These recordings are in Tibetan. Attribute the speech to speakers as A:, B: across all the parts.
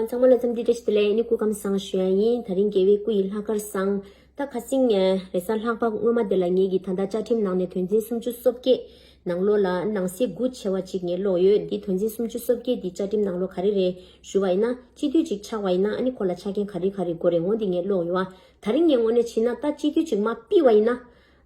A: ཚང་མ་ལ་འཚམས་འདྲི་བཀྲ་ཤིས་བདེ་ལེགས་ནི་སྐུ་ཁམས་བཟང་ཞུ་ཡ་ཡིན་ད་རིང་རྒྱལ་བའི་སྐུ་ཡི་ལྷ་སྐར་བཟང་ད་ཁ་སིང་ངེ་རེ་ས་ལྷག་པ་སྔོན་མ་དེ་ལ་ངེད་ཀྱིས་ད་ལྟ་བཅའ་ཁྲིམས་ནང་ནས་དོན་ཚན་སུམ་ཅུ་སོ་བརྒྱད་ནང་ལོགས་ལ་ནང་གསེས་དགུ་ཆེ་བ་གཅིག་ངེད་ལོགས་ཡོད་འདི་དོན་ཚན་སུམ་ཅུ་སོ་བརྒྱད་འདི་བཅའ་ཁྲིམས་ནང་ལོགས་ག་རེ་རེད་ཞུ་བ་ཡིན་ན་སྤྱི་འཐུས་གཅིག་ཆགས་བ་ཡིན་ན་ཨ་ནི་ཁོ་ལ་ཆ་རྐྱེན་ག་རེ་ག་རེ་དགོས་རེད་ངོ་འདི་ངེད་ལོགས་ཡོད་ད་རིང་ངེད་ངོ་ནས་ཕྱིན་ན་ད་སྤྱི་འཐུས་གཅིག་མ་བིས་བ་ཡིན་ན།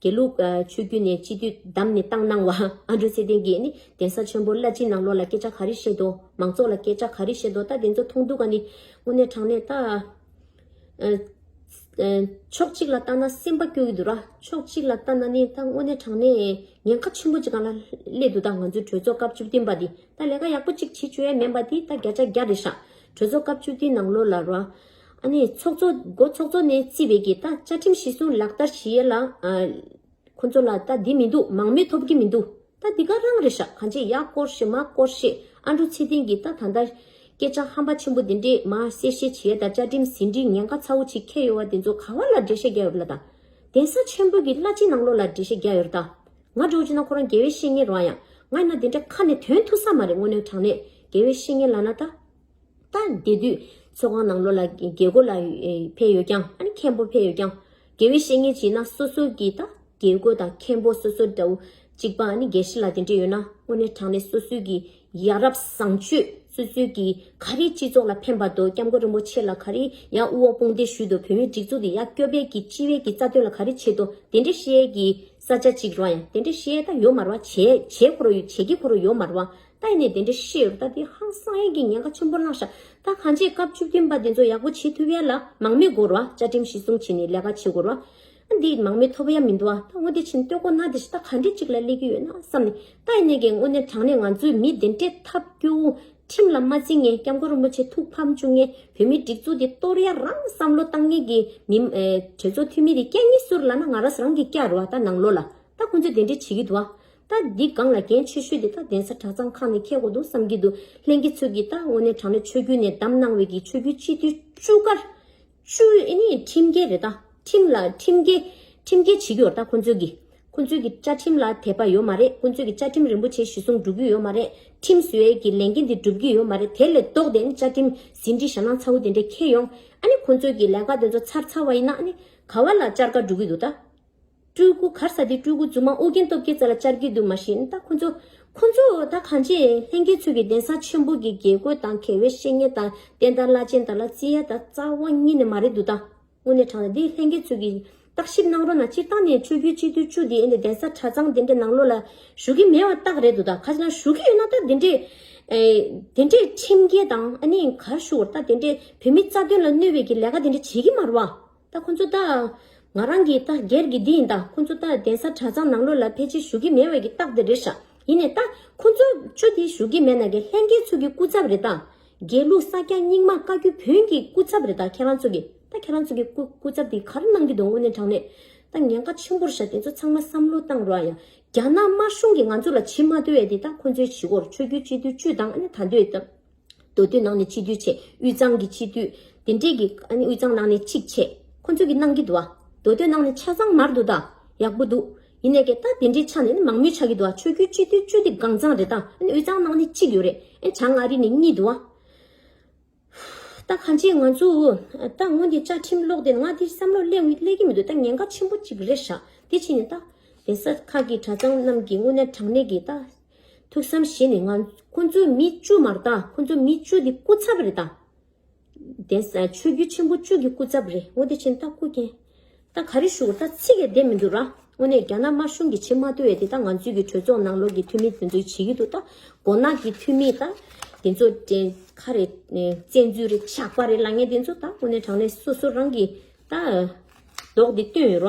A: དགེ་ལུགས་ཆོས་བརྒྱུད་ནས་སྤྱི་འཐུས་བདམས་ནས་བཏང་གནང་བ་ཨ་མྲོ་ཚེ་བརྟན་གྱིས་ནི་གདན་ས་ཆེན་པོ་བླ་སྤྱི་ནང་ལོགས་ལ་སྐད་ཆ་ག་རེ་བཤད་དོ། མང་ཚོགས་ལ་སྐད་ཆ་ག་རེ་བཤད་དོ་ད་དེ་ཚོ་མཐོང་འདུག་ག་ནི། དངོས་གནས་དྲང་གནས་ཕྱོགས་གཅིག་ལ་བལྟ་ན་སེམས་པ་སྐྱོ་གི་འདུག་ར་ཕྱོགས་གཅིག་ལ་བལྟ་ན་ནི་ད་དངོས་གནས་དྲང་གནས་ཉེན་ཁ་ཆེན་པོ་གཅིག་ག་ལ་སླེབས་འདུག་ད་ང་ཚོའི་གྲོས་ཚོགས་སྐབས་བཅུ་བདུན་པ་འདི་ད་ལས་ཀ་ཡག་པོ་གཅིག་བྱེད་བཅུག་ཡ་མེད་པ་འདི་ད་བརྒྱ་ཆ་བརྒྱ་རེད་ཤག་གྲོས་ཚོགས་སྐབས་བཅུ་བདུན་ནང་ལོགས་ལ་ར། ཨ་ནི་ཚོགས་གཙོ། སྒོ་ཚོགས་གཙོ་ནས་རྩིས་བས་ཀྱི་ད་བཅའ་ཁྲིམས་གཞི་བཟུང་ལག་བསྟར་བྱེད་ཡས་ལ། ཁོ་ཚོ་ལ་ད་འདི་མི་འདུག་མང་མོས་ཐོབ་ཀྱི་མི་འདུག་ད་འདི་ག་རང་རེད་ཤག་གང་བྱེད་ཡག་སྐོར་ཤེས་མ་སྐོར་ཤེས་ཨ་འབྲུ་ཚེ་བརྟན་གྱིས་ད་ད་ལྟ། སྐད་ཆ་ཧམ་པ་ཆེན་པོ་འདི་འདྲས་མ་གསལ་བཤད་བྱེད་ཡས་ད་བཅའ་ཁྲིམས་ཟིན་བྲིས་ཉན་ཁ་ཚ་བོ་ཆེ་ཁྱེར་ཡོད་བ་དེ་ཚོ་ག་བ་ལ་འགྲེལ་བཤད་རྒྱག་ཡོད་པ་ལ་ད། གདན་ས་ཆེན་པོ་གྱི་བླ་སྤྱི་ནང་ལོག་ལ་འགྲེལ་བཤད་རྒྱག་ཡོད་ར་ད། ང་འགྲོ་བྱེད་ན་ཁོ་རང་རྒྱལ་བའི་བཤེས་གཉེན་རང་ཡང་ང་ཡིན་ན་དེ་འདྲ་ཁ་ནས་དོན་ཐུག་ས་མ་རེད་དངོས་གནས་དྲང་གནས་རྒྱལ་བའི་བཤེས་གཉེན་ལ་ན་ད། ད་དེ་དུས་ཚོད་ཁང་ནང་ལོ་ལ་རྒས་རྒོ་ལ་ཕས་ཡོད་ཀྱང་ཨ་ནི་མཁན་པོ་ཕས་ཡོད་ཀྱང། དགེ་བའི་བཤེས་གཉེན་བྱེད་ན་སོ་སོ་གྱིས་ད་རྒས་རྒོ་དང་མཁན་པོ་སོ་སོ་འདྲ་བོ་གཅིག་པ་ཨ་ནི་རྒས་ཤི་ལ་དེ་འདྲས་ཡོད་ན་དངོས་གནས་དྲང་གནས་སོ་སོའི་གྱི་ཡ་རབས་བཟང་སྤྱོད་སོ་སོའི་གྱི་ག་རེ་སྤྱི་ཚོགས་ལ་ཕན་པ་དོ་སྐྱབས་མགོན་རིན་པོ་ཆེ་ལ་ག་རེ་ཡ་དབུ་འོག་དཔུང་སྡེ་ཞུས་དོ་བོད་མིའི་སྒྲིག་འཛུགས་དེ་ཡ་སྐྱོ་པའི་གྱི་སྤྱི་བའི་གྱི་རྩ་དོན་ལ་ག་རེ་བྱེད་དོ་དེ་འདྲས་བཤད་གྱི་ས་ཆ་གཅིག་རོ་ཡང་དེ་འདྲས་བཤད་ད་ཡོད་མ་རོ་བ་བྱས་བྱས་ཁོ་རོ་བྱས་ཀྱི་ཁོ་རོ་ཡོད་མ་རོ་བ། ལྟས་ནས་དེ་འདྲ་ཤེས་ཡོད་པ་ད་དེ་ཧང་སང་ཡིན་གྱི་ཉེན་ཁ་ཆེན་པོ་བསླངས་ཤག་ད་གང་བྱས་སྐབས་བཅུ་བདུན་པ་དེ་ཚོ་ཡག་པོ་བྱེད་ཐུབ་ཡས་ལ་མང་མི་དགོར་བ་བཅའ་ཁྲིམས་གཞི་བཟུང་བྱས་ནས་ལས་ཀ་བྱེད་དགོར་བ་ཨ་འདིས་མང་མི་ཐོབ་ཡ་མི་འདུ་བ་ད་དངོས་དེ་ཕྱིན་སྟོད་གོ་ན་དེ་ཤི་ད་ག་འདྲས་ཅིག་ལ་སླེབས་ཀྱི་ཡོད་ན་བསམ་ནས་ལྟས་ནས་གས་དངོས་གནས་དྲང་གནས་ང་ཚོའི་མི་དེ་འདྲས་ཐབས་སྐྱོ་བོ་ཁྲིམས་ལ་མ་བརྩི་ངས་སྐྱབས་མགོ་རིན་པོ་ཆེ་ཐུགས་ཕམ་བཅུག་ངས་བོད་མི་སྒྲིག་འཛུགས་དེ་གཏོར་ཡ་རང་བསམ་བློ་བཏང་ངས་གས་མི་གྲོས་ཚོགས་འཐུས་མི་དེ་སྐད་གཉིས་ཟུར་ལ་ན་ང་ར་ས་རང་གི་སྐྱར་བ་ད་ནང་ལོ་ལ་ད་ཁོང་ཚོས་དེ་འདྲས་བྱེད་ཀྱི་འདུ་བ། ད་འདི་སྒང་ལ་འགན་ཆེ་ཤོས་དེ་ད་གདན་ས་གྲྭ་ཚང་ཁག་ནས་ཁེལ་གོ་འདུག་བསམ་གྱི་འདུག་ལྷན་གྱི་ཚོད་ཀྱིས་ད་དངོས་གནས་དྲ་གནས་ཆོས་རྒྱུད་ནས་བདམས་གནང་བའི་གི་ཆོས་རྒྱུད་སྤྱི་འཐུས་བཅུ་ག། བཅུ་ཨེ་ནི་ཁྲིམས་འགལ་རེད་ད། ཁྲིམས་ལ་ཁྲིམས་འགལ། ཁྲིམས་འགལ་བྱེད་ཀྱི་ཡོད་རེད་ད་ཁོང་ཚོས་གི། ཁོང་ཚོས་གི་བཅའ་ཁྲིམས་ལ་དད་པ་ཡོད་མ་རེད་ཁོང་ཚོས་གི་བཅའ་ཁྲིམས་རིན་པོ་ཆེ་གཞི་བཟུང་སྒྲུབ་ཀྱི་ཡོད་མ་རེད་ཁྲིམས་བཟོས་གི་ལས་འགན་དེ་སྒྲུབ་ཀྱི་ཡོད་མ་རེད་དེ་ལས་ལྡོག་དེ་ཨ་ནི་བཅའ་ཁྲིམས་ཟིན་བྲིས་ཞྭ་ནག་ཚ་བོ་དེ་འདྲས་ཁེལ་ཡོང་ཨ་ནི་ཁོང་ཚོས་གི་ལས་ཀ་དེ་ཚོ་ཚར་ཚར་བ་ཡིན་ན་ཨ་ནི་ག་བ་ལ་བཅར་ཀ་འགྲོ་གི་འདུག་ད། སྤྲུལ་སྐུ་གར་ས་དེ་སྤྲུལ་སྐུ་རྫུན་མ་ཨོ་རྒྱན་སྟོབས་རྒྱལ་རྩ་ལ་ཅར་གྱི་འདུག་མ་གཞི་ད་ཁོང་ཚོ། ཁོང་ཚོ་ད་གང་བྱས་ལྷན་རྒྱས་ཚུལ་གྱི་གདན་ས་ཆེན་པོ་གི་དགེ་བསྐོས་དང་གལ་བའི་བཤེས་གཉེན་དང་བསྟན་དར་བླ་ཆེན་དག་ལ་རྩི་ཡ་དང་རྩ་བ་གཉིས་ནས་མ་རེད་འདུག་ད། དངོས་གནས་དྲང་ལ་འདི་ལྷན་རྒྱས་ཚུལ་གྱི། བརྟག་ཞིབ་གནང་རོགས་གནང་སྤྱིར་བཏང་ནས་ཆོས་བརྒྱུད་སྤྱི་འཐུས་བཅུ་འདི་ཨེ་འདི་གདན་ས་གྲྭ་ཚང་དེ་འདྲའི་ནང་ལོགས་ལ་ཞུགས་ཀྱི་མེད་པ་རྟགས་རེད་འདུག་ད་ཁ་ཅིག་ན་ཞུགས་ཀྱི་ཡོད་ན་ད་དེ་འདྲའི། དེ་འདྲའི་ཁྲིམས་འགལ་དང་ཨ་ནི་གར་ཞུགས་བར་ད་དེ་འདྲའི་བོད་མི་རྩ་དོན་ལ་གནོད་བའི་གྱི་ལས་ཀ་དེ་འདྲ་བྱེད་ཀྱི་མ་རུ་བ། ད་ཁོ་ཚོ་ད། ང་རང་གིས་ད་སྒེར་གྱི་འདི་ཡིན་ད་ཁོ་ཚོ་ད་གདན་ས་གྲྭ་ཚང་ནང་ལོགས་ལ་ཕལ་ཆེར་ཞུགས་ཀྱི་མེད་བས་ཀྱི་རྟགས་དེ་རེད་ཤག་ཡིན་ནས་ད་ཁོ་ཚོ་ཆུ་དེ་ཞུགས་ཀྱི་མེད་ན་ཀྱི་ལྷན་རྒྱས་ཚུགས་ཀྱི་སྐུ་ཚབ་རེད་ད། དགེ་ལུགས་ས་སྐྱ་རྙིང་མ་བཀའ་བརྒྱུད་བོན་གྱི་སྐུ་ཚབ་རེད་ད་ཁྱེད་རང་ཚོ་གི་ད་ཁྱེད་རང་ཚོ་གི་སྐུ་སྐུ་ཚབ་དེ་གར་གནང་གྱི་འདུག་དངོས་གནས་དྲང་གནས་ད་ཉེན་ཁ་ཆེན་པོར་ཤག་དེ་ཚོ་ཚང་མ་བསམ་བློ་བཏང་རོགས་ཡ། རྒྱ་ནག་དམར་གཞུང་གིས་ང་ཚོ་ལ་བྱིས་མ་བརྡོལ་བས་དེ་ད་ཁོ་ཚོའི་བྱིས་འཁོར་ཆོས་བརྒྱུད་སྤྱི་འཐུས་བཅུ་དང་ཨ་ནེ་ད་འདོད་ད། མདོ་སྟོད་ནང་ནས་ཆིག་བསྡུས་ཆེ། དབུས་གཙང་གི་ཆིག་བསྡུས། དེ་འདྲས་ཀྱི། དབུས་གཙང་ནང་ནས་ཆིག་ཆེ། ཁོ་ཚོས་ཀྱི་གནང་གི་འདུག་ཨ། མདོ་སྟོད་ནང་ནས་ཆ་ཚང་མར་འདུག་ད། ཡག་པོ་འདུག། ཡིན་ནས་ཀྱི་ད་དེ་འདྲའི་ཆ་ནས་ནི་མང་མོས་ཆགས་ཀྱི་འདུག་ཨ་ཆོས་རྒྱུད་སྤྱི་འཐུས་བཅུ་དེ་གང་ཚང་རེད་ད། དབུས་གཙང་ནང་ནས་གཅིག་ཡོད་རེད། བྱང་མངའ་རིས་ནས་གཉིས་འདུག་ཨ། ད་གང་ཅིའི་ང་ཚོ། ད་སྔོན་དེ་བཅའ་ཁྲིམས་ཀློག་དེ་ང་དེ་བསམ་བློ་གླས་ཀྱི་མི་འདུག་ད་ཉེན་ཁ་ཆེན་པོ་གཅིག་རེད་ཤག་དེ་ཕྱིན་ནས་ད། གདན་ས་ཁག་གི་གྲྭ་ཚང་རྣམས་ཀྱི་དངོས་གནས་དྲང་གནས་ཀྱི་ད། ཐུགས་བསམ་བཞེས་ནས་ང། ཁོ་ཚོའི་མི་བཅུ་མར་བཏང་ཁོ་ཚོའི་མི་བཅུ་དེ་སྐུ་ཚབ་རེ་བཏང། དེ་ས་ཆོས་བརྒྱུད་ཆེན་པོ་བཅུ་གི་སྐུ་ཚབ་རེ་ངོ་བདེ་ཆེན་ད་སྐུ་མཁྱེན། ད་ག་རེ་བཞུགས་ད་ཚིག་གེ་བདེ་མི་འདུག་ར་དངོས་གནས་རྒྱ་ནག་དམར་གཞུང་གི་ཕྱི་མ་དེ་བས་དེ་ད་ང་ཚོའི་གི་གྲོས་ཚོགས་ནང་ལོག་གི་འཐུས་མི་དེ་ཚོ་བྱེད་ཀྱི་འདུག་ད་མགོ་ནག་གི་འཐུས་མི་ད་དེ་ཚོ་དྲན་ཁ་རེ་བཙན་འཛུལ་རེ་ཆགས་པ་རེ་ལ་ངས་དེ་ཚོ་ད་དངོས་གནས་དྲང་གནས་སོ་སོ་རང་གི་ད་མདོག་དེ་སྟོན་ཡོད་ར་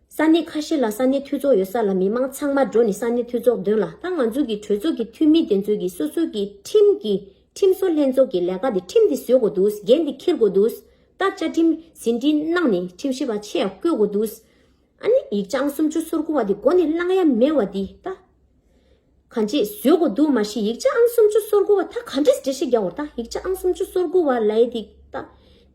A: ས་གནས་ཁ་ཤས་ལ་ས་གནས་འཐུས་ཚོགས་ཡོད་ས་ལ་མི་དམངས་ཚང་མ་འགྲོ་ནས་ས་གནས་འཐུས་ཚོགས་འདོན་ལ་ད་ང་ཚོ་གི་གྲོས་ཚོགས་ཀྱི་འཐུས་མི་དེ་ཚོས་ཀྱི་སོ་སོ་གི་ཁྲིམས་ཀྱི་ཁྲིམས་བཟོ་ལྷན་ཚོགས་ཀྱི་ལས་ཀ་དེ་ཁྲིམས་དེ་བཟོས་དགོས་འདུག་འགན་དེ་འཁྱེར་དགོས་འདུག་ད་བཅའ་ཁྲིམས་ཟིན་བྲིས་གནང་ནས་ཁྲིམས་ཞིབ་པ་ཆེ་ཡག་བསྐོས་དགོས་འདུག་ཨ་ནི་ཡིག་བྱང་སུམ་ཅུ་སོར་དགུ་བ་དེ་མགོ་ནས་བླངས་ཡ་མེད་བ་དེ་ད། གང་ཅིས་བཟོས་གོ་འདུག་མ་གཞི་ཡིག་ཆ་ཨང་སུམ་ཅུ་སོར་དགུ་བ་ད་ག་འདྲས་འབྲི་ཤེས་རྒྱ་བོར་ད་ཡིག་ཆ་ཨང་སུམ་ཅུ་སོར་དགུ་བ་ལའི་འདི་ད་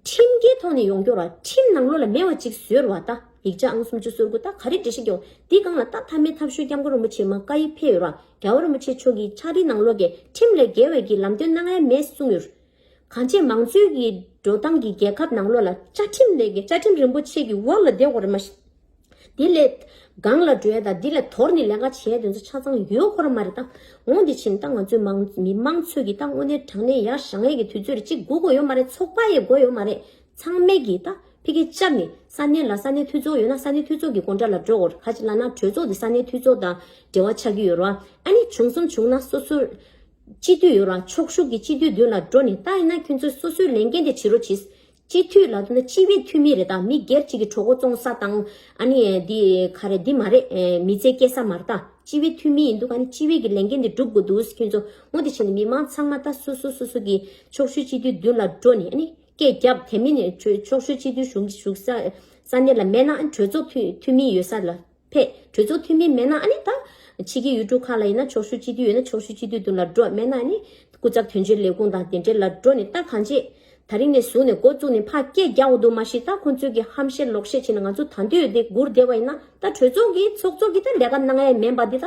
A: ཁྲིམས་འགལ་ཐོག་ནས་ཡོང་སྐྱོར་བ་ཁྲིམས་ནང་ལོ་ལ་མེད་བ་ཅིག་བཟོས་ར་བ་ད་ཡིག་ཆ་ཨང་སུམ་ཅུ་སོར་དགུ་ད་ག་རེ་འབྲི་ཤེས་རྒྱ་བོར་འདི་གང་ལ་ད་ཐ་མའི་ཐབས་ཤོད་སྐྱབས་མགོན་རིན་པོ་ཆེ་མ་བཀའ་ཡིག་ཕེབས་ཡོད་ར་རྒྱ་བོར་རིན་པོ་ཆེ་མཆོག་གིས་ཕྱག་བྲིས་ནང་ལོ་འགལ་ཁྲིམས་ལས་འགལ་བའི་གི་ལམ་སྟོན་གནང་ཡ་མེད་གསུངས་ཡོད། གང་ཅིས་མང་གཙོའི་གི་འགྲོ་སྟངས་གི་རྒྱལ་ཁབ་ནང་ལོ་ལ་བཅའ་ཁྲིམས་ལས་འགལ་བཅའ་ཁྲིམས་རིན་པོ་ཆེ་གི་དབར་ལ་བདེ་བོར་མ་དེ་ལས། སྒང་ལ་བྲོས་དང་འདི་ལས་དོར་ནས་ལས་ཀ་བྱས་དོན་ཚོ་ཆ་ཚང་ཡོད་ཁོ་ར་མ་རེད་ད། འོང་དེ་ཕྱིན་ད་ང་ཚོའི་མང་མི་དམངས་ཚོས་ཀྱིས་ད་དངོས་གནས་དྲང་གནས་ཡ་ཞང་ཡས་ཀྱི་དུས་ཚོད་རེད་གཅིག་སྒུག་དགོས་ཡོད་མ་རེད་ཚོགས་པ་ཡས་དགོས་ཡོད་མ་རེད་ཚང་མས་ཀྱིས་ད་ཕི་ཀའི་ལྕབ་ནས་ས་གནས་ལ་ས་གནས་འཐུས་ཚོགས་ཡོད་ན་ས་གནས་འཐུས་ཚོགས་ཀྱི་དགོངས་འདྲ་ལ་འགྲོ་དགོས་ཧ་ཅི་ལ་ན་གྲོས་ཚོགས་དེ་ས་གནས་འཐུས་ཚོགས་དང་འབྲེལ་བ་ཆགས་ཀྱི་ཡོད་རོ་ཨ་ནི་བྱུང་གསུམ་བྱུང་ན་སོ་སོའི། སྤྱི་འཐུས་ཡོད་རོ་ཨ་ཕྱོགས་བཞུགས་ཀྱི་སྤྱི་འཐུས་མདུན་ལ་འགྲོ་ནས་ད་ཡིན་ན་ཁྱོད་ཚོས་སོ་སོའི་ལས་འགན་དེ་བྱི་རོ་བྱིས། སྤྱི་འཐུས་ལ་སྤྱི་བའི་འཐུས་མི་རེ་དང་མི་སྒེར་གཅིག་གི་གྲོགས་འགོ་བཙོང་ས་དང། ཨ་ནི། འདི་ག་རེ་འདི་མ་རེད། མི་ཚེ་སྐྱེལ་ས་མ་རེད་ད། སྤྱི་བའི་འཐུས་མི་ཡིན་འདུག་ཨ་ནི་སྤྱི་བའི་གི་ལས་འགན་འདི་སྒྲུབ་དགོས་འདུག་ཁྱོད་ཚོ་ངོ་དེ་བྱས་ནས་མི་མང་ཚང་མ་ད་སོ་སོ་སོ་སོ་གི་ཕྱོགས་ཤུལ་སྤྱི་འཐུས་མདུན་ལ་འགྲོ་ནས་ཨ་ནི་སྐད་བརྒྱབ་དེ་མིན་ནས་ཕྱོགས་ཤུལ་སྤྱི་འཐུས་ཞུགས་ས་གནས་ལ་མེད་ན་ཨ་ནི་གྲོས་ཚོགས་འཐུས་མི་ཡོད་ས་ལ། ཕས། གྲོས་ཚོགས་འཐུས་མི་མེད་ན་ཨ་ནི་ད། ཕྱི་གི་ཡུལ་གྲུ་ཁག་ལ་ཡིན་ན་ཆོག་ཤུལ་སྤྱི་འཐུས་ཡོད་ན་ཆོག་ཤུལ་སྤྱི་འཐུས་དུ་ལ་འགྲོ་མེད་ན་ཨ་ནི། སྐུ་ཚབ་དོན་གཅོད་ལས་ཁུངས་དང་དེ་འབྲེལ་ལ་འགྲོ་ནི་ད་གང་བྱེད། ད་རིང་ནས་བཟུང་ནས་འགོ་བཙུགས་ནས་ཕར་སྐད་རྒྱག་འོ་འདུག་མ་གཞི་ད་ཁོང་ཚོས་གི་ཧམ་བཤད་ལོག་བཤད་བྱེད་ནས་ང་ཚོ་ད་འདོད་འདི་སྒུར་བསྡད་པ་ཡིན་ན་ད་གྲོས་ཚོགས་ཀྱི་ཚོགས་གཙོ་གི་ད་ལས་ཀ་གནང་ཡས་མེད་པ་འདི་ད།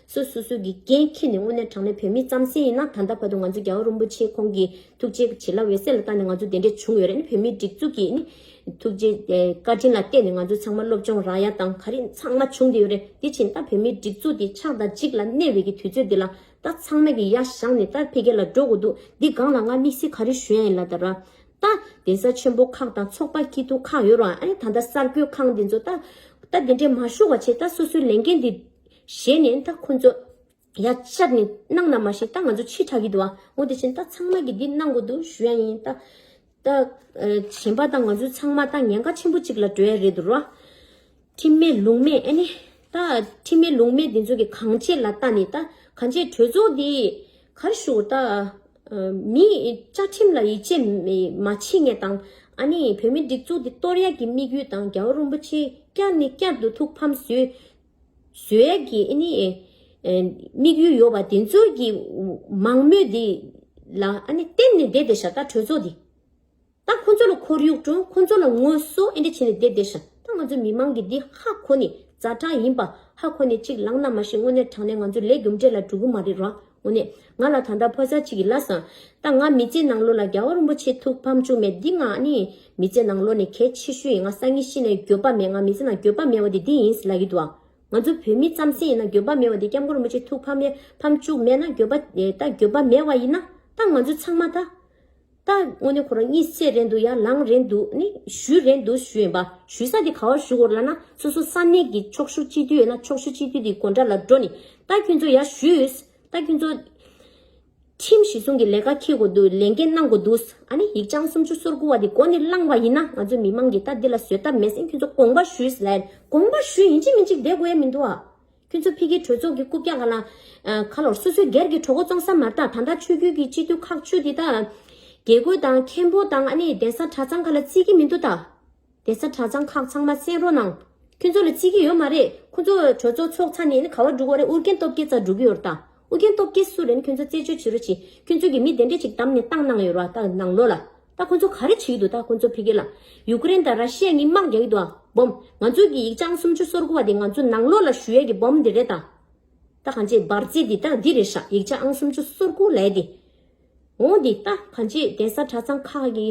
A: སུ་སུ་སུ་གི་རྐྱེན་ཁྱེད་ནི་དངོས་གནས་དྲང་གནས་བོད་མི་རྩམ་ཟན་ཡིན་ན་ད་ལྟ་བར་དུ་ང་ཚོ་རྒྱ་བ་རུན་པོ་ཆེ་ཁོང་གི་ཐུགས་རྗེ་བྱིན་རླབས་འོད་གསལ་ལ་བརྟག་ནས་ང་ཚོ་དེ་འདྲས་བྱུང་ཡོད་རེད་ནི་བོད་མིའི་སྒྲིག་འཛུགས་ཀྱི་ནི་ཐུགས་རྗེ་བཀའ་དྲིན་ལ་བརྟེན་ནས་ང་ཚོ་ཚང་མ་སློབ་སྦྱོང་རག་ཡ་དང་ག་རིགས་ཚང་མ་བྱུང་དེ་ཡོད་རེད་དེ་བྱིན་ད་བོད་མིའི་སྒྲིག་འཛུགས་དེ་ཆགས་དང་འཇིག་ལ་གནས་བའི་གི་དུས་ཚོད་དེ་ལ་ད་ཚང་མ་གི་ཡ་བཞག་ནི་ད་འཕེལ་རྒྱས་ལ་འགྲོ་དགོས་འདུག་འདི་སྒང་ལ་ང་དམིགས་བསལ་ག་རིགས་ཞུ་ཡ་ཡིན་ལ་ད་ར་ད། གདན་ས་ཆེན་པོ་ཁག་དང་ཚོགས་པ་སྐྱིད་སྡུག་ཁག་ཡོད་རུང་ཨ་རེ་ད་ད་གསར་འགོད་ཁང་དེ་ཚོ་ད་ད་དེ་འདྲས་མ་ཞུ་བ་ཆེད་ད་སོ་སོའི་ལས་འགན་དེ་བཞེས་ནས་ད་ཁོ་ཚོ། ཡ། ལྕགས་ནི་གནང་ན་མ་བཞེས་ད་ང་ཚོ་ཕྱིར་གྲག་གི་འདུག་ཨ། མོ་དེ་བཞིན་ད་ཚང་མ་གི་འདི་གནང་དགོས་འདུག་ཞུ་ཡ་ཡིན། ད། ད། གཞན་པ་ད་ང་ཚོ་ཚང་མ་ད་ཉེན་ཁ་ཆེན་པོ་གཅིག་ལ་འགྲོ་ཡ་རེད་འདུག་རོ། ཁྲིམས་མེད་ལུང་མེད་ཨ་ནི། ད། ཁྲིམས་མེད་ལུང་མེད་འདི་ཚོ་གི་གང་བྱེད་ལ་ད་ནི་ད། གང་བྱེད་གྲོས་ཚོགས་འདི། གར་ཞུགས་ད། མི། བཅའ་ཁྲིམས་ལ་ཡིད་ཆེས། མ་བྱེད་ངེས་དང། ཨ་ནི་བོད་མི་སྒྲིག་འཛུགས་འདི་གཏོར་ཡ་གི་དམིགས་ཡུལ་དང་རྒྱལ་བ་རོན་པོ་ཆེ་བསྐྱར་ནི་བསྐྱར་དུ་ཐུགས་ཕམ་བཟོས། བཟོད་ཡབ་ཀྱི་ཨེ་ནི། དམིགས་ཡུལ་ཡོད་པ་དེ་ཚོའི་གི། མང་མོས་དེ། ལ་ཨ་ནི་བསྟེན་ནས་བསྡད་བསྡད་ཤག་ད་གྲོས་ཚོགས་དེ། ད་ཁོ་ཚོ་ལ་ཁོར་ཡུག་དྲུང་ཁོ་ཚོ་ལ་ངོ་སོ་ཨེ་འདྲ་བྱེད་ནས་བསྡད་བསྡད་ཤག་ད་ང་ཚོ་མི་མང་གི་དེ་ཧ་ཁོ་ནི་རྫ་དྲང་ཡིན་པ་ཧ་ཁོ་ནི་གཅིག་ལང་ན་མ་ཤེས་དངོས་གནས་དྲང་ནས་ང་ཚོ་ལས་རྒྱུ་འབྲས་ལ་འགྲོ་གི་མ་རེད་ར་འོ་ནི། ང་ལ་ད་ལྟ་ཕོ་གཟའ་གཅིག་གི་བླ་བཟང། ད་ང་མི་ཚེ་ནང་ལོ་ལ་རྒྱལ་བ་རིན་པོ་ཆེ་ཐུགས་ཕམ་བཅུག་མེད་འདི་ང་ནི། མི་ཚེ་ནང་ལོ་ནི་གལ་ཆེ་ཤོས་ཡིན་ང་སང་ཉིན་ཤི་ན་འགྱོད་པ་མེད་ང་མི་ཚེ་ནང་འགྱོད་པ་མེད་བ་དེ་འདི་ཡིན་ཟེར་ལག་གི་འདུག་ཨ། ང་ཚོ་བོད་མི་རྩམ་ཟན་ཡིན་ན་འགྱོད་པ་མེད་བ་དེ་སྐྱབས་མགོན་རིན་པོ་ཆེ་ཐུགས་ཕམ་ཕམ་བཅུག་མེད་ན་འགྱོད་པ། ད་འགྱོད་པ་མེད་བ་ཡིན་ན། ད་ང་ཚོ་ཚང་མ་ད། ད་དངོས་གནས་ཁོ་རང་གཉིད་སད་རན་འདུག་ཡང་ལངས་རན་འདུག་ནི་བཞུད་རན་འདུག་བཞུད་ཡིན་པ་བཞུད་ས་དེ་ག་བར་བཞུད་གོ་ར་ན་སོ་སོ་ས་གནས་ཀྱི་ཕྱོགས་བཞུགས་སྤྱི་འཐུས་ཡོད་ན་ཕྱོགས་བཞུགས་སྤྱི་འཐུས་དེའི་གོ་འདྲ་ལ་འགྲོ་ནི་ད་ཁྱོད་ཚོ་ཡར་བཞུད་ད་ཁྱོད་ཚོ། ཁྲིམས་གཞི་སྲུང་གི་ལས་ཀ་འཁེལ་གོ་འདུག་ལས་འགན་གནང་གོ་འདུག་ཨ་ནི་ཡིག་བྱང་སུམ་ཅུ་སོར་དགུ་བ་དེ་གོ་ནི་བླངས་པ་ཡིན་ན་ང་ཚོ་མི་མང་གིས་ད་འདི་ལ་བཟོད་ཐབས་མེད་སེང་ཁྱོད་ཚོ་དགོངས་པ་བཞུད་ལན་དགོངས་པ་བཞུད་ཡིན་གཅིག་མིན་གཅིག་བསྡད་དགོས་ཡ་མི་འདུག་ཨ། ཁྱོད་ཚོ་ཕི་གི་གྲོས་ཚོགས་ཀྱི་རྐུབ་བཀྱག་ལ་ལ། ཁ་ལོར་སོ་སོའི་སྒེར་གྱི་གྲོགས་པོ་བཙོང་ས་མ་རྟགས་ད་ལྟ་ཆོས་བརྒྱུད་ཀྱི་སྤྱི་འཐུས་ཁག་བཅུ་དེ་དག། དགེ་བསྐོས་དང་མཁན་པོ་དང་ཨ་ནི་གདན་ས་གྲྭ་ཚང་ག་ལ་བརྩི་གི་མི་འདུག་ད། གདན་ས་གྲྭ་ཚང་ཁག་ཚང་མ་གསན་རོགས་གནང། ཁྱོད་ཚོ་ལ་བརྩི་གི་ཡོད་མ་རེད་ཁོ་ཚོ་གྲོས་ཚོགས་ཚོགས་ཚ་ནས་ཨ་ནི་ག་བ་འགྲུག་བ་རེད་ཨུར་རྒྱན་སྟོབས་རྒྱལ་ཙག་འགྲུག་གི་ཡོད་རེད་ད། ཨོ་རྒྱན་སྟོབས་རྒྱལ་སུ་རེད་ཁྱོད་ཚོ་རྩད་གཅོད་བྱེད་རོ་ཅིག་ཁྱོད་ཚོ་གི་མི་དེ་འདྲས་ཅིག་བདམས་ནས་བཏང་གནང་ཡོད་རོ་ཨ་ད་ནང་ལོག་ལ་ད་ཁོ་ཚོ་ག་རེ་བྱེད་ཀྱི་འདུག་ད་ཁོ་ཚོ་ཕེ་གེ་ལ་ཡུ་ཀེ་རེན་དང་ར་ཤི་ཡ་གཉིས་དམག་རྒྱག་གི་འདུག་ཨ་འབོམ་ང་ཚོ་གི་ཡིག་བྱང་སུམ་ཅུ་སོར་དགུ་བ་དེ་ང་ཚོ་ནང་ལོག་ལ་ཞུ་ཡ་གི་འབོམ་དེ་རེད་ད་ད་གང་ཅེས་འབར་རྫས་འདི་ད་འདི་རེད་ཤག་ཡིག་བྱང་སུམ་ཅུ་སོར་དགུ་ལས་འདི་འོང་འདི་ད་གང་ཅེས་གདན་ས་གྲྭ་ཚང་ཁག་གི་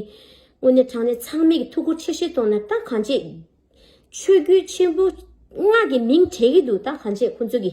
A: དངོས་གནས་དྲང་གནས་ཚང་མེད་ཀྱི་ཐུགས་ཁུར་ཆེ་བཞེས་ཐོག་ནས་ད་གང་ཅེས་ཆོས་བརྒྱུད་ཆེན་པོ་ལྔ་གི་མིང་གྲགས་ཀྱི་འདུག་ད་གང་ཅེས་ཁོ་ཚོ་གི།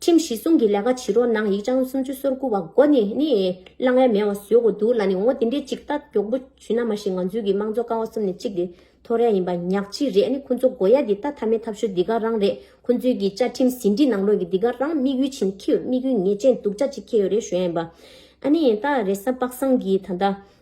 A: ཁྲིམས་གཞི་བསྲུང་གི་ལས་ཀ་བྱེད་རོགས་གནང་ཡིག་ཆང་སུམ་ཅུ་སོར་དགུ་བ་མགོ་ནས་ནི་གླ་རྔན་མེད་བ་བཟོས་དགོས་འདུག་ལ་ནི་ངོ་དེ་འདྲའི་ཅིག་ལྟ་མགྱོགས་པོ་བྱུས་ན་མ་གཞི་ང་ཚོའི་གི་དམངས་གཙོ་ཀ་བ་གསུམ་ནས་གཅིག་དེ་ཐོ་རེངས་ཡིན་པ་ཉག་གཅིག་རེད་ནི་ཁོང་ཚོ་མགོ་ཡ་དེ་ལྟ་ཐབས་མེད་ཐབས་ཤོར་འདི་ག་རང་རེད་ཁོང་ཚོའི་གི་བཅའ་ཁྲིམས་ཟིན་བྲིས་ནང་ལོགས་གི་འདི་ག་རང་དམིགས་ཡུལ་བྱིན་ཁྱེའུ་དམིགས་ཡུལ་ངེས་ཅན་སྡུག་ཅག་ཅིག་ཁྱེའུ་རེད་ཞོན་ཡིན་པ་ཨ་ནི་ད་རེས་པགས་སངས་གིས་ད་ལྟ་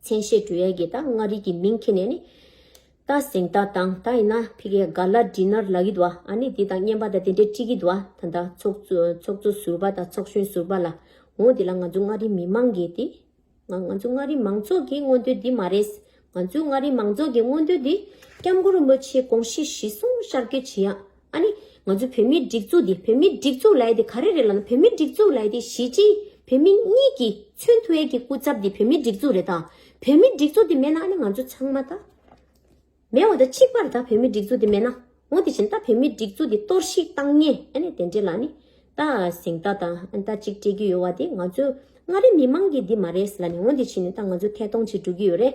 A: མཚན་བཤད་དྲུ་ཡལ་གྱི་རྟ་མངའ་རིས་ཀྱི་མིང་ཁྱེར་ནས་ནི། རྟ་གཟེངས་རྟ་དང་རྟ་ཡིན་ན་ཕི་གའི་སྒ་ལ་འདྲི་ནར་ལ་གི་དུ་བ་ཨ་ནི་འདི་དང་གཉེན་པ་དང་དེ་འདྲའི་ཀྲི་གི་དུ་བ་ད་ད་ཚོགས་གཙོ་ཟུར་པ་དང་ཚོགས་གཞོན་ཟུར་པ་ལ་འོང་དེ་ལ་ང་ཚོ་མངའ་རིས་མི་མང་གིས་དེ། ང་ང་ཚོ་མངའ་རིས་མང་ཚོགས་ཀྱི་མངོན་འདོད་འདི་མ་རེད། ང་ཚོའི་མངའ་རིས་མང་ཚོགས་ཀྱི་མངོན་འདོད་འདི་སྐྱབས་མགོན་རིན་པོ་ཆེའི་དགོངས་གཞི་གཞི་བཟུང་ཤར་བསྐྱོད་བྱེད་ཡག་ཨ་ནི། ང་ཚོའི་བོད་མིའི་སྒྲིག་འཛུགས་འདི་བོད་མིའི་སྒྲིག་འཛུགས་ལའེ་དེ་ག་རེ་རེད་ལབ་ན་བོད་མིའི་སྒྲིག་འཛུགས་ལའེ་དེ་གཞིས་བྱེས་བོད་མི་གཉིས་ཀྱི་མཚོན་ཐུལ་གྱི་སྐུ་ཚབ་འདི་བོད་མིའི་སྒྲིག་འཛུགས་རེད་ད། བོད་མིའི་སྒྲིག་འཛུགས་འདི་མེད་ན་ཨ་ནི་ང་ཚོ་ཚང་མ་ད། མེད་བ་ད་གཅིག་པར་ད་བོད་མིའི་སྒྲིག་འཛུགས་འདི་མེད་ན། ངོ་དེ་བཞིན་ད་བོད་མིའི་སྒྲིག་འཛུགས་འདི་གཏོར་བཤིག་བཏང་ཉེ་ཨ་ནི་དེ་འདྲེ་ལ་ཨ་ནི། ད་གཟེངས་རྟགས་ད་ཨ་ནི་ད་གཅིག་སྤྲད་ཀྱི་ཡོད་བ་དེ་ང་ཚོའི་མངའ་རིས་མི་མང་གི་འདི་མ་རེད་ཟེར་ལ་ནི་ངོ་འདི་བཞིན་ནི་ད་ང་ཚོའི་ཐད་གཏོང་བྱེད་འགྲོ་གི་ཡོད་རེད།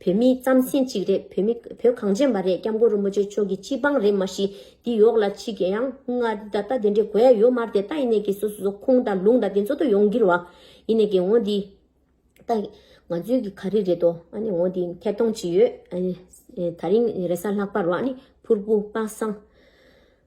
A: བོད་མི་རྩམ་སེན་གཅིག་རེད་བོད་མི་བོད་གངས་ཅན་པ་རེད་སྐྱབས་མགོན་རིན་པོ་ཆེ་མཆོག་གི་སྤྱི་དཔང་རེད་མ་གཞི་འདི་ཡོག་ལ་ཕྱི་གི་ཡང་ང་ད་ལྟ་དེ་འདྲའི་གོ་ཡ་ཡོད་མར་དེ་ལྟ་ཡིན་ནས་གི་སོ་སོ་ཁུང་དང་ལུང་དང་དེ་ཚོ་དོ་ཡོང་གིར་བ་ཡིན་ནས་གི་ངོ་འདི་ད་ང་ཚོའི་གི་ག་རི་རེད་དོ་ཨ་ནི་ངོ་འདི་ཐད་གཏོང་ཅི་ཡོད་ཨ་ནི་ད་རིང་རེ་ས་ལྷག་པར་བ་ཨ་ནི་ཕུར་བུ་པ་སངས།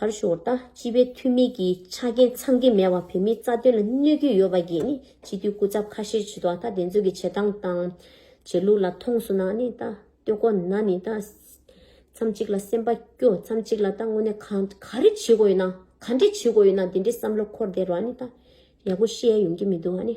A: གར་ཞུ་བ་ལྟ་སྤྱི་པའི་འཐུས་མི་གི་ཆ་རྐྱེན་ཚང་གི་མེད་པ་བོད་མིའི་རྩ་དོན་ལ་གནོད་ཀྱི་ཡོད་པ་གིས་ནི་སྤྱི་འཐུས་སྐུ་ཚབ་ཁ་ཤས་བྱེད་ཐོག་ད་དེ་ཚོ་གི་བྱེད་སྟངས་དང། བྱེད་ལུགས་ལ་མཐོང་སོང་ན་ནི་ད་སྟོད་གོ་ན་ནི་ད། མཚམས་གཅིག་ལ་སེམས་པ་སྐྱོ་མཚམས་གཅིག་ལ་ད་དངོས་གནས་ག་ག་རེ་བྱེད་དགོས་ཡོད་ན་ག་འདྲེ་བྱེད་དགོས་ཡོད་ན་དེ་འདྲེ་བསམ་བློ་འཁོར་བསྡད་རོགས་ནི་ད་ཡག་པོ་བཤད་ཡ་ཡོང་གི་མི་འདུག་ཨ་ནི།